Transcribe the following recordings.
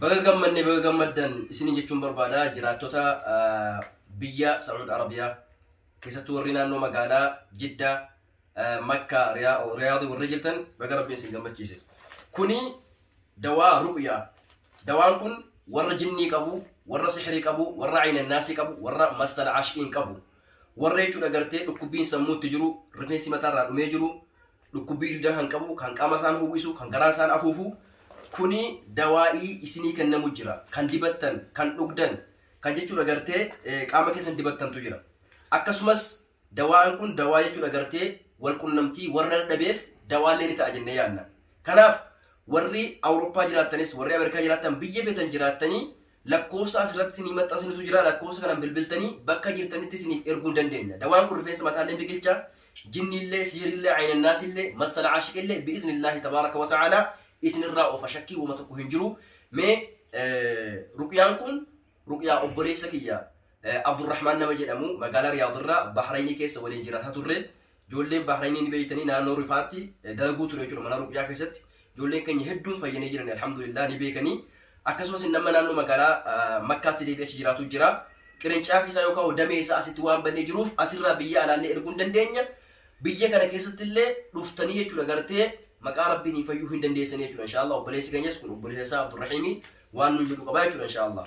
Baga gammanne baga gammaddan isiniin jechuun barbaada jiraattota biyya Saud Arabiyaa keessattuu warri naannoo magaalaa Jiddaa Makkaa Riyaadii warri jirtan baga rabbiin isin gammachiise. Kuni dawaa ruqyaa. Dawaan kun warra jinnii qabu, warra sihirii qabu, warra aynannaasii qabu, warra massal ashiin qabu. Warra jechuudha gartee dhukkubbiin sammuutti jiru, rifeensi mataarraa dhumee jiru, dhukkubbii duudaa kan qabu, kan qaama isaan howwisu, kan garaa isaan afuufu kuni dawaa'ii isinii kennamu jira. Kan dibattan, kan dhugdan, kan jechuudha gartee qaama keessan dibattantu jira. Akkasumas dawaan kun dawaa jechuudha gartee wal qunnamtii warra dadhabeef dawaallee ni ta'a jennee yaadna. Kanaaf warri Awurooppaa jiraattanis, warri Ameerikaa jiraattan biyya feetan jiraattanii Lakkoofsa as irratti isinii maxxansinutu jira. Lakkoofsa kanan bilbiltanii bakka jirtanitti isiniif erguu hin dandeenya. Dawaan kun rifeensa mataa illee biqilcha. Jinni illee, sihri illee, ayna naas illee, massala aashiq illee bi'izni illaahi tabaaraka wa ta'aalaa isin irraa oofa shakkii woma tokko hin jiru. Mee ruqyaan kun ruqyaa obboleessa kiyya Abdurrahmaan nama jedhamu magaalaa Riyaad irraa Bahraynii keessa waliin jiraata turre. Ijoolleen Bahrayinii ni beektanii naannoo rifaatti dalaguu ture jechuudha mana ruqyaa keessatti. Ijoolleen keenya hedduun fayyanii jiran alhamdulillah ni beekanii. Akkasumas nama naannoo magaalaa Makkaatti deebi'ee achi jiraatu jira. Qirincaafi isaa yookaan damee isaa asitti waan bannee jiruuf asirraa biyya alaallee erguu hin dandeenya. Biyya kana keessatti illee dhuftanii jechuudha gartee maqaa rabbiin hin fayyuu hin dandeessanii jechuudha inshaallah obboleessi keenyas kun obboleessa isaa Abdurrahiimii waan nuun jedhu qabaa jechuudha inshaallah.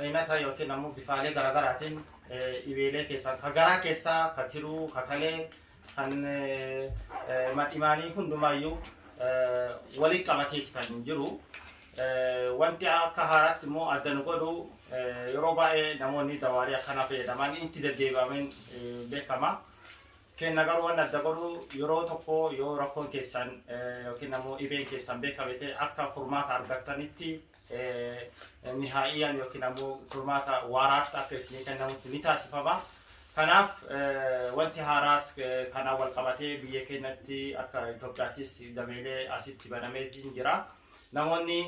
Aynata yookiin ammoo bifaalee garaagaraatiin dhibeelee keessaa ka garaa keessaa ka tiruu ka kalee kan madhimaanii hundumaayyuu waliin qabateeti kan jiru. Wanti akka haaraatti immoo adda nu godhu yeroo baay'ee namoonni dawaalee akkanaa fayyadaman itti deddeebi'ameen beekama. Kenna garuu waan adda godhu yeroo tokko yoo rakkoon keessan yookiin ammoo dhibeen keessan beekame ta'e akka furmaata argattanitti nihaa'iyyaan yookiin ammoo furmaata waaraatti akka isinii kennamutti ni taasifama. Kanaaf wanti haaraas kanaan wal qabatee biyya keenyatti akka Itoophiyaattis dameelee asitti banamee jira. Namoonni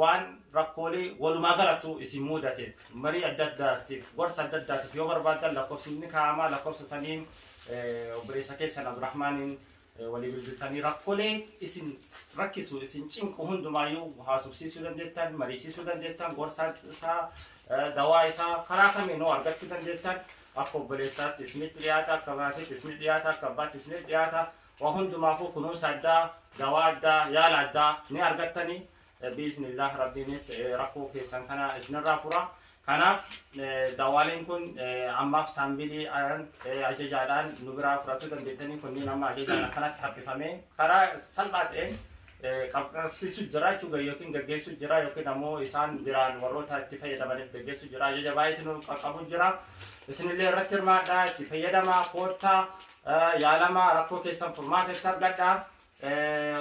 waan rakkoolee walumaa galattuu isin muudateef marii adda addaatiif gorsa adda addaatiif yoo barbaaddan lakkoofsi ni kaa'amaa lakkoofsa saniin obboleessa keessan Abdurrahmaaniin walii bilbiltanii rakkoolee isin rakkisu isin cinqu hundumaayyuu haasofsiisuu dandeettan mariisiisuu dandeettan gorsa isaa dawaa isaa karaa kamiin hoo argachuu dandeettan akka obboleessaatti isinitti dhiyaata akka maatiitti isinitti dhiyaata akka abbaatti isinitti dhiyaata Waa hundumaafuu kunuunsa addaa, dawaa addaa, yaala addaa ni argattani. Biiznillah Rabbiinis rakkoo keessan kana isinirraa fura. Kanaaf dawaaleen kun ammaaf saambilii ajajaadhaan nu biraa fudhachuu dandeettanii kunniin amma ajajaan akkanatti haphifamee karaa salphaa ta'een qabsiisu jira jechuudha yookiin gaggeessu jira yookiin ammoo isaan biraan warroota itti fayyadamaniif gaggeessu jira ajaja baay'eetu nu qaqqabu jira isinillee irratti hirmaadhaa itti fayyadamaa koottaa yaalamaa rakkoo keessan furmaata itti argadhaa.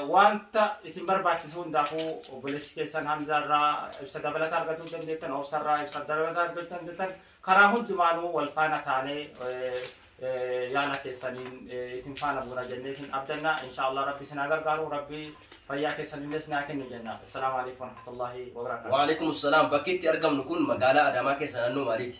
Wanta isin barbaachisu hundaafuu obboleessi keessan Hamzaa irraa ibsa dabalataa argatuu dandeettan, Obsa irraa ibsa dabalataa argatuu dandeettan. Karaa hundumaanuu wal faana taanee yaala keessaniin isin faana buuna jennee isin abdanna. Inshaallah Rabbi isin haa gargaaru. Rabbi fayyaa keessan illee isin haa kennu jenna. Assalaamu alaikum warahmatullahi wabarakatuh. Waalaikum salaam bakki itti argamnu kun magaalaa Adaamaa keessa naannoo maaliiti?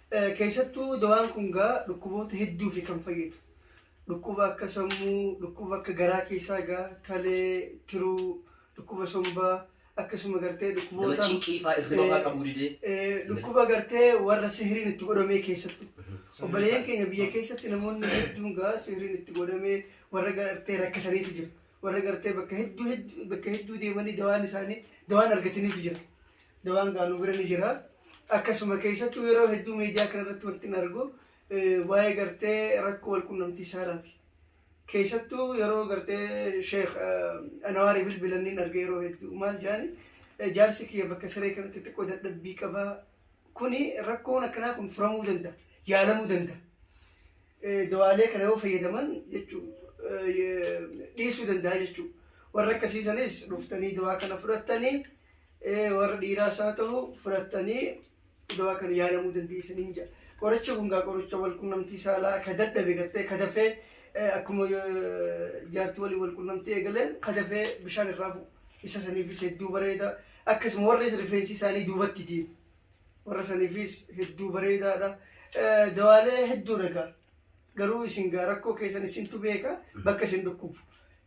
Keessattuu dawaan kun gaa dhukkuboota hedduufi kan fayyadu. Dhukkuba akka sammuu, dhukkuba akka garaa keessaa gaa kalee, tiruu, dhukkuba sombaa akkasuma gartee Nama dhukkuboota cinqii faa irriba faa qabuu didee. Eh, dhukkuba gartee warra sihiriin itti godhamee keessattu. Obboleeyyan keenya biyya keessatti namoonni hedduun gaa sihiriin itti godhamee warra gartee rakkataniitu jiru. Warra gartee bakka hedduu hedduu bakka hedduu deemanii dawaan isaanii dawaan argataniitu jira. Dawaan gaa nu bira ni jira. Akkasuma keessattuu yeroo hedduu miidiyaa kana irratti wanti hin argu waa'ee gartee rakkoo wal qunnamtii saalaati. Keessattuu yeroo gartee Sheekh Anawaari bilbilan ni arga yeroo hedduu maal jaani jaarsi kiyya bakka siree kanatti xiqqoo dadhabbii qabaa. Kuni rakkoon akkanaa kun furamuu danda'a, yaalamuu danda'a. Dawaalee kana yoo fayyadaman jechuu dhiisuu danda'a jechuudha. Warra akkasiisanis dhuftanii dawaa kana fudhattanii warra dhiiraas haa ta'u fudhattanii dawaa kana yaalamuu dandeessaniin jedha. Qorichi kun gaa qoricha wal qunnamtii saalaa ka dadhabe gartee ka dafee akkuma jaartii waliin wal qunnamtii eegaleen ka dafee bishaan irraa bu'u. Isa saniifis hedduu bareeda. Akkasuma warri rifeensi isaanii duubatti deemu. Warra saniifis hedduu bareedaadha. Dawaalee hedduudha gaa. Garuu isin gaa rakkoo keessan isintu beeka bakka isin dhukkubu.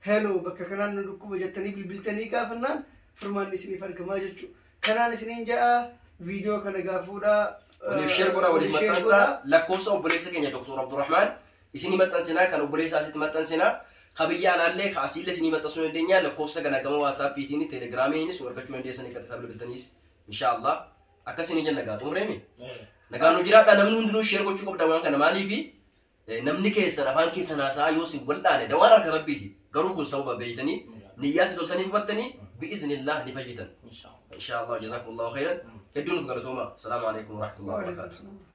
Hello bakka kanaan nu dhukkuba jettanii bilbiltanii gaafannaan furmaanni isiniif argamaa jechuudha. Kanaan isiniin ja'a viidiyoo kana gaa fuudhaa. Waliif sheer godhaa, waliif share maxxansaa. godhaa. Lakkoofsa obboleessa keenya Dr. Abdurrahmaan isinii maxxansinaa, kan obboleessaa asitti maxxansinaa. Ka biyya alaallee ka asiillee isinii maxxansuu dandeenya. Lakkoofsa kana gama waatsaappiitiin, teelegiraamiinis nu argachuu dandeessanii qaxxisaa bilbiltaniis. Inshaallah. Akkasii ni jenna gaa xumurreemi. Nagaan nu jiraadha namni hundinuu sheer gochuu qabda waan kana maaliifi namni keessan afaan keessan haasaa yoo isin wal'aane dawaan harka rabbiiti garuu kun sababa beeytanii niyyaatti toltanii hubattanii bi'iznillah ni fayyitan. Inshaa Allah jazakumullahu khayran. Hedduun of galatoomaa. Salaamu alaikum warahmatullahi wabarakatuh.